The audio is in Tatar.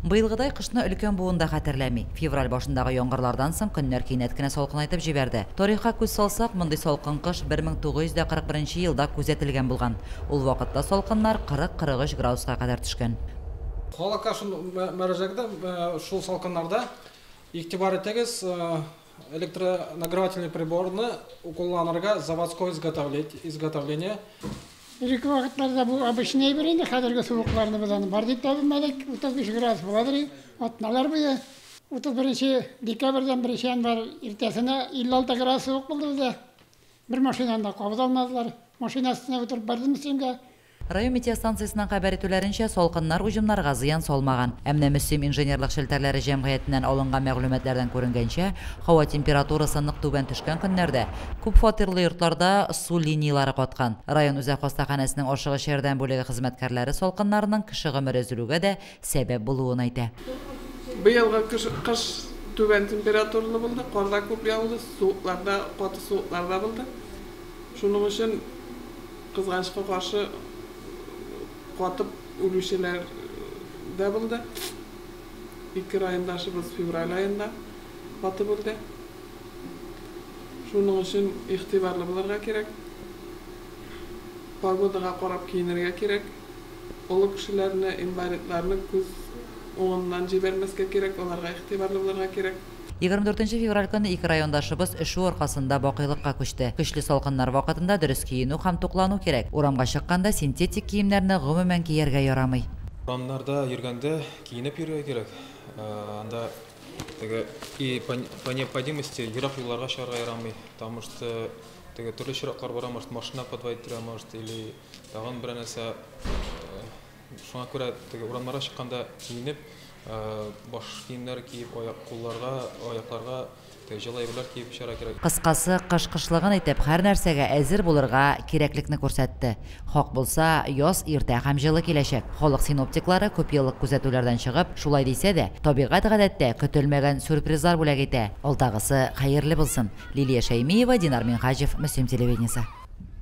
Быелгыдай кышны өлкән буын да хәтерләми. Февраль башындагы яңгырлардан соң көннәр кинәт кенә салкынайтып җибәрде. Тарихка күз салсак, мондый салкын кыш 1941 нче елда күзәтелгән булган. Ул вакытта салкыннар 40-43 градуска кадәр төшкән. Халыкка шул мөрәҗәгатем, шул салкыннарда игътибар итегез, Электронагревательный приборны кулланырга заводской изготовление. Элекке вакытларда бу обычный әйбер инде, хәзерге суыкларны без аны бар дип тә белмәдек. 35 градус буладыр и атналар буе. 31 декабрьдән 1 январь иртәсенә 56 градус суык булды бездә. Бер машинаны да кабыз алмадылар. Машина өстенә утырып бардым өстәлгә. Район метеостанциясенең хәбәр итүләренчә, салкыннар уҗымнарга зыян салмаган. Ә менә Мөслим инженерлык челтәрләре җәмгыятеннән алынган мәгълүматлардан күренгәнчә, һава температурасы нык түбән төшкән көннәрдә күп фатирлы йортларда су линияләре каткан. Район үзәк хастаханәсенең ашыгыч ярдәм бүлеге хезмәткәрләре салкыннарның кеше гомере өзелүгә дә сәбәп булуын әйтә. Быелгы кыш түбән температуралы булды, кар да күп яуды, суыклар да, каты суыклар да булды. Шуның өчен Кызганычка каршы, катып үлүчеләр дә булды. Ике райондашыбыз февраль аенда катып үлде. Шуның өчен игътибарлы булырга кирәк. Погодага карап киенергә кирәк. Олы кешеләрне, инвалидларны күз уңыннан җибәрмәскә кирәк, аларга игътибарлы булырга кирәк. Егерме дүртенче февраль көнне ике райондашыбыз өшү аркасында бакыйлыкка күчте. Көчле салкыннар вакытында дөрес киенү һәм туклану кирәк. Урамга чыкканда синтетик киемнәрне гомумән кияргә ярамый. Урамнарда йөргәндә киенеп йөрергә кирәк. Анда теге и по необходимости ерак юлларга чыгарга ярамый. Потому что теге төрле очраклар бара, может машина подводить торган, может или тагын берәр нәрсә. Шуңа күрә теге урамнарга чыкканда киенеп, баш киемнәр киеп, аяк, кулларга, аякларга теге җылы әйберләр киеп чыгарга кирәк. Кыскасы, кыш кышлыгын итеп, һәрнәрсәгә әзер булырга кирәклекне күрсәтте. Хак булса, яз иртә һәм җылы киләчәк. Халык синоптиклары, күпьеллык күзәтүләрдән чыгып, шулай дисә дә, табигать гадәттә көтелмәгән сюрпризлар бүләк итә. Алдагысы хәерле булсын! Лилия Шәймиева, Динар Минһаҗев, Мөслим телевидениесе.